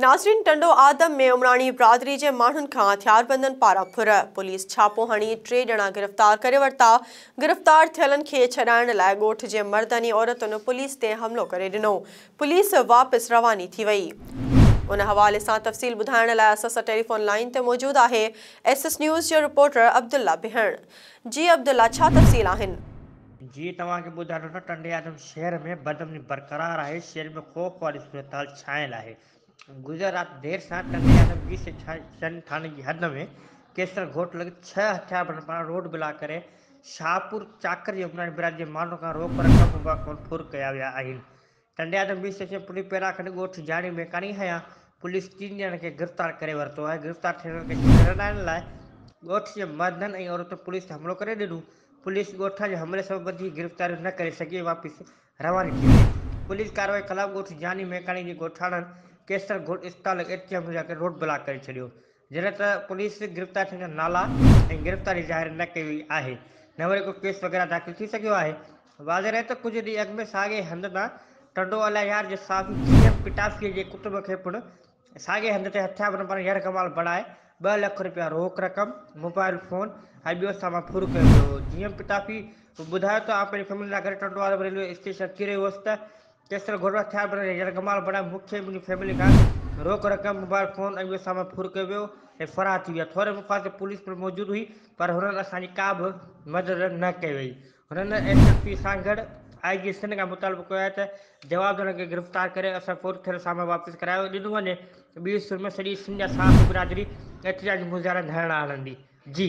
ناظرين ٽنڊو آدم ۾ عمراڻي برادري جي ماڻهن کان هٿياربندن پاران ڦر، پوليس ڇاپو هڻي ٽي ڄڻا گرفتار ڪري ورتا، گرفتار ٿيلن کي ڇڏائڻ لاء ڳوٺ جي مردن ۽ عورتن پوليس تي حملو ڪري ڏنو، پوليس واپس رواني ٿي وئي. ان حوالي سان تفصيل ٻڌائڻ لاء اسان سان ٽيليفون لائين تي موجود آهي ايس ايس نيوز جو رپورٽر عبدالله بهڻ. جي عبدالله ڇا تفصيل آهن؟ جي توهان کي ٻڌايان ٿو ته ٽنڊي آدم شهر ۾ بدامني برقرار آهي، شهر ۾ خوف واري صورتحال ڇانيل آهي. گذريل رات دير سان ٽنڊي آدم جي سيڪشن ٿاڻي جي حد ۾ ڪيسر ڳوٺ لڳ ڇهه هٿياربندن پاران روڊ بلاڪ ڪري شاهپور چاڪر جي عمراڻي برادري جي ماڻهن کان روڪ رقم مباح خون ڦر ڪيا ويا آهن. ٽنڊيا نمبر اسٽيشن پوليس پيراکڏ ڳوٺ جاڻي ۾ ڪاڻي هنيا پوليس ٽن ڄڻن کي گرفتار ڪري ورتو آهي گرفتار ٿيل کي ڇڏڻ آڻڻ لاء ڳوٺ جي مردن ۽ عورتن پوليس تي حملو ڪري ڏنو پوليس ڳوٺان جي حملي سبب وڌيڪ گرفتاريون نه ڪري سگهي واپس رواني ٿي وئي پوليس ڪارروائي خلاف ڳوٺ جاني ميڪاڻي جي ڳوٺاڻن ڪيسر گوٺ اسپتال ۽ ايٽي ايم جا ڪري روڊ بلاڪ ڪري ڇڏيو جڏهن ته پوليس گرفتار ٿيلن جا نالا ۽ گرفتاري ظاهر نه ڪئي وئي آهي نه وري ڪو ڪيس وغيره داخل ٿي سگهيو آهي واضح رهي ته ڪجهه ڏينهن اڳ ۾ ساڳئي هنڌ تان ٽنڊو الهيار جي صحافي جي ايم پٽافي جي ڪٽنب کي پڻ ساڳئي هنڌ تي هٿيار بڻ پاران يرغمال بڻائي ٻه لک رپيا روڪ رقم، موبائل فون ۽ ٻيو سامان ڦر ڪيو ويو هو. جي ايم پٽافي ٻڌايو ته آئون پنهنجي فيملي سان گڏ ٽنڊو عالم ريلوي اسٽيشن ڪري ويو هوس ته ڪيسر گهوڙو هٿيار بڻ جي يرغمال بڻائي مون کي ۽ منهنجي فيملي کان روڪ رقم، موبائل فون ۽ ٻيو سامان ڦر ڪيو ويو ۽ فرار ٿي ويا. ٿوري مقدار تي پوليس پڻ موجود هئي پر هنن اسان جي ڪا به مدد نه ڪئي وئي. هنن S S P Sanghar, I G Sindh کان مطالبو ڪيو آهي ته جوابدارن کي گرفتار ڪري اسان فوت ٿيل سامان واپس ڪرايو ڏنو وڃي، ٻي سر ۾ سڄي سنڌ جا صحافي برادري احتجاجي مظاهرا ڌرڻا هڻندي. جي.